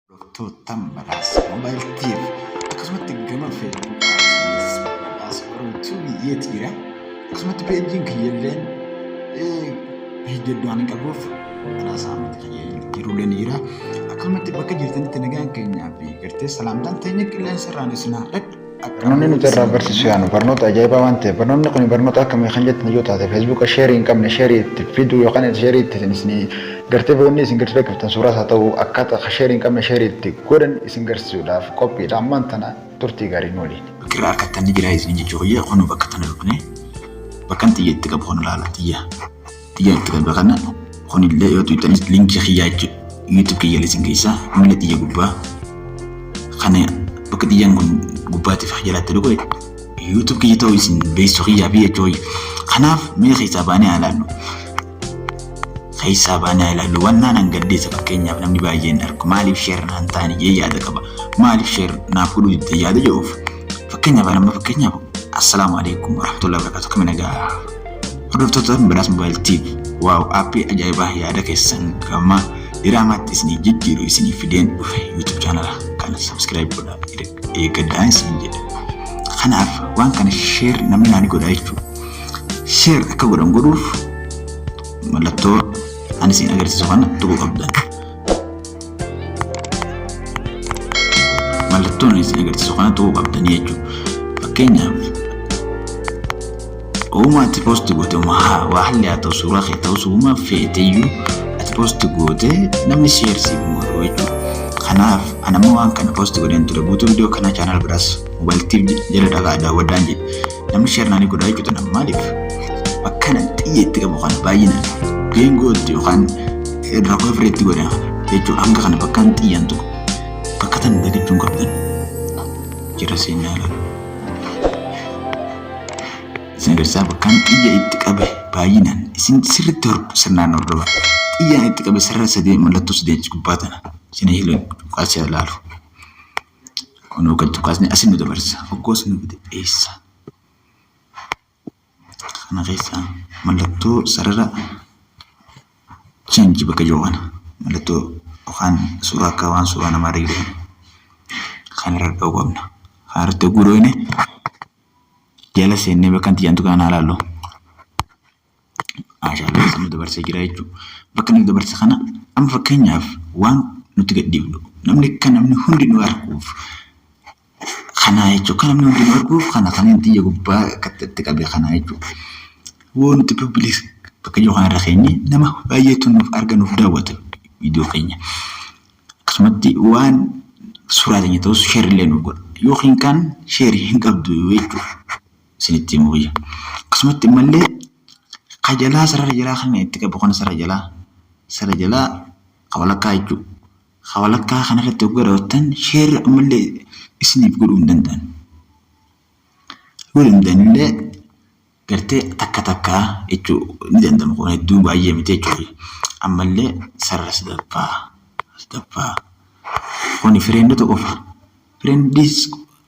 Doktoottan Badhaas Mobile TV akkasumatti gama Feesbuukaanis Badhaas Oromoo TV yeeti jira. Akkasumatti peejiin kiyyalleen hojjedhu ani qabuuf Badhaas Ahmad kiyya jiruulee ni jira. Akkasumatti bakka jirtanitti nagaan keenyaa fi gartee salaamtaan teenya qilleensa irraan isin haa dhaqu. Barnoonni nuti irraa barsiisu yaanu barnoota ajaa'ibaa waan ta'eef barnoonni kun barnoota akkamii kan jettan yoo taate feesbuuka sheerii hin qabne sheerii itti fiduu yookaan sheerii itti isin gartee boonni isin gartee qabtan suuraas haa ta'u akkaataa akka sheerii hin qabne sheerii itti godhan isin garsiisuudhaaf qophiidha ammaan tana turtii gaarii nu waliin. Bakki irraa argattan ni jira isin jechuu kiyya kun bakka tana dhufne bakkan xiyya itti qabu kun ilaala xiyya. itti jalqabe kana kunillee yoo tuqxanis linkii kiyyaa jechuudha. YouTube kiyya lisin keessaa miila xiyya gubbaa kana bakka xiyyaan kun gubbaatiif jalatti dhufe YouTube kiyya ta'uu isin beeksisuu kiyyaa fi jechuu kanaaf miila keessaa baanee haa ilaallu. Keessaa baanee haa ilaallu wannaan hangaddeessa fakkeenyaaf namni baay'een argu maaliif sheer naan taane jee yaada qaba maaliif sheer naaf godhuu didde yaada jedhuuf fakkeenyaaf nama fakkeenyaaf assalaamu alaikum warahmatullahi wabarakatuh kamina gahaa. Hordoftoota Badhaas Mobile TV waaw aappii ajaa'ibaa yaada keessan gama diraamaatti isinii jijjiiru isiniif fideen dhufe YouTube chaanala kana subscribe godhaa eeggadhaa isin jedha. Kanaaf waan kana share namni naani godhaa jechuudha. Share akka godhan godhuuf mallattoo ani isin agarsiisu kana tuquu qabdan. mallattoon isin agarsiisu kana ta'uu qabdanii jechuudha. Fakkeenyaaf uumaa ati poosti goote uumaa waa halli haa ta'u suuraa kee ta'us uumaa feeteyyuu ati poosti goote namni sheer siif godhu jechuudha. Kanaaf anammoo waan kana poosti godheen ture guutuu viidiyoo kana chaanaal biraas mobaayiltiif jala dhagaa daawwadhaan jedhe. Namni sheer naanii godhaa jechuudha nama maaliif? Akkana xiyya itti qabu kana baay'inaan geengoo itti yookaan irra koofiree itti godha jechuudha hanga kana bakkaan xiyyaan tokko bakka tan dagachuun qabdan jira seenaa laala. Isin agarsiisaa bakkaan xiyya itti qabe baay'inaan isin sirriitti hordu sirnaan hordofa. Xiyyaan itti qabe sarara sadee mallattoo sadee gubbaa tana isin hiilan kaasee laalu. Kun hoggan tukaasni asin nu dabarsa. Hoggoo sun nuti eessa? Kana keessa mallattoo sarara change bakka jiru kana mallattoo yookaan suuraa akka waan suuraa namaa irra jiru kan irra dha'uu qabna. Kan irratti hogguu dhoofne jala seennee bakka nuti jedhamtu kana ilaallu. Haashaalee keessa nu dabarsee jira jechuudha. Bakka nu dabarse kana amma fakkeenyaaf waan nuti gadhiifnu namni akka namni hundi nu arguuf kana jechuudha. Akka namni hundi nu arguuf kana kan inni xiyya gubbaa akkatti itti qabe kana jechuudha. Woo nuti public bakka jiru kanarra keenye nama baay'eetu nuuf arga nuuf daawwata viidiyoo keenya. Akkasumatti waan suuraa keenya ta'us sheerillee nuuf godha. Yookiin kan sheerii hin qabdu jechuudha. isinitti himuu wayya. Akkasumatti ammallee ka jalaa sarara jalaa kan itti qabu kana sarara jalaa sarara jalaa ka walakkaa jechuudha. Ka walakkaa kanarratti hoggaa daawwattan sheerri ammallee isiniif godhuu hin danda'an. Godhuu hin danda'anillee gartee takka takka jechuu ni danda'ama kun hedduu baay'ee miti jechuudha. Ammallee sarara sadaffaa sadaffaa kuni fireendota qofa. Fireendiis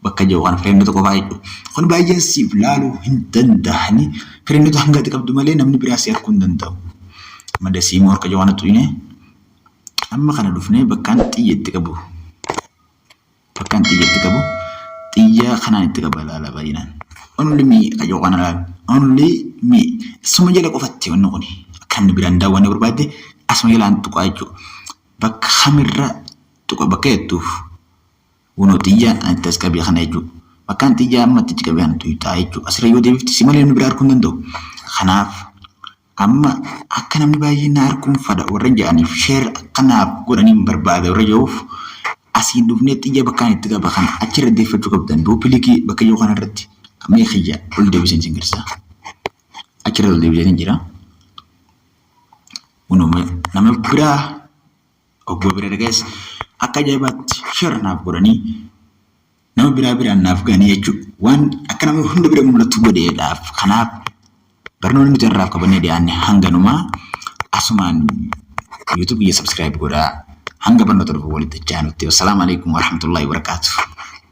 bakka jiru kana fireendota qofaa hedduu. Kun baay'een siif laaluu hin danda'ani. Fireendota hanga ati qabdu malee namni biraa si arkuu hin danda'u. Amma dasii moo harka jawaan xuqine. Amma kana dhufnee bakkaan xiyya itti qabu. Bakkaan xiyya itti qabu. Xiyya kanaan itti qaba laala baay'inaan. Only me akka jiru kana laala. Only me. Suma jala qofatti wanni kuni. Akka namni biraan daawwanne barbaadde asuma jalaan tuqaa jechuudha. Bakka kamirra tuqa bakka jettuuf. Uno xiyya itti as qabi kana jechuudha. Bakkaan xiyyaa amma itti qabi kana tuyxaa jechuudha. Asirra yoo deebifte si malee namni biraa arguu hin danda'u. Kanaaf amma akka namni baay'een na arguun fadha warra jedhaniif sheer akka naaf godhaniin barbaada warra jedhuuf asiin dhufnee xiyya bakkaan itti qaba kana achirra deeffachuu qabdan duupilikii bakka yoo kanarratti amma kiyya ol deebiseen sin garsaa. Achirra ol deebiseen jira. Uno nama biraa Obboo bira dhagayas akka ajaa'ibaatti share naaf godhanii nama biraa biraan naaf gahanii jechuudha. Waan akka nama hunda bira mul'atu godheedhaaf kanaaf barnoonni nuti irraaf qabannee dhiyaanne hanganumaa asumaan YouTube kiyya subscribe godhaa hanga barnoota dhufu walitti itti aanutti. Wassalaamu alaikum warahmatullahi wabarakatuh.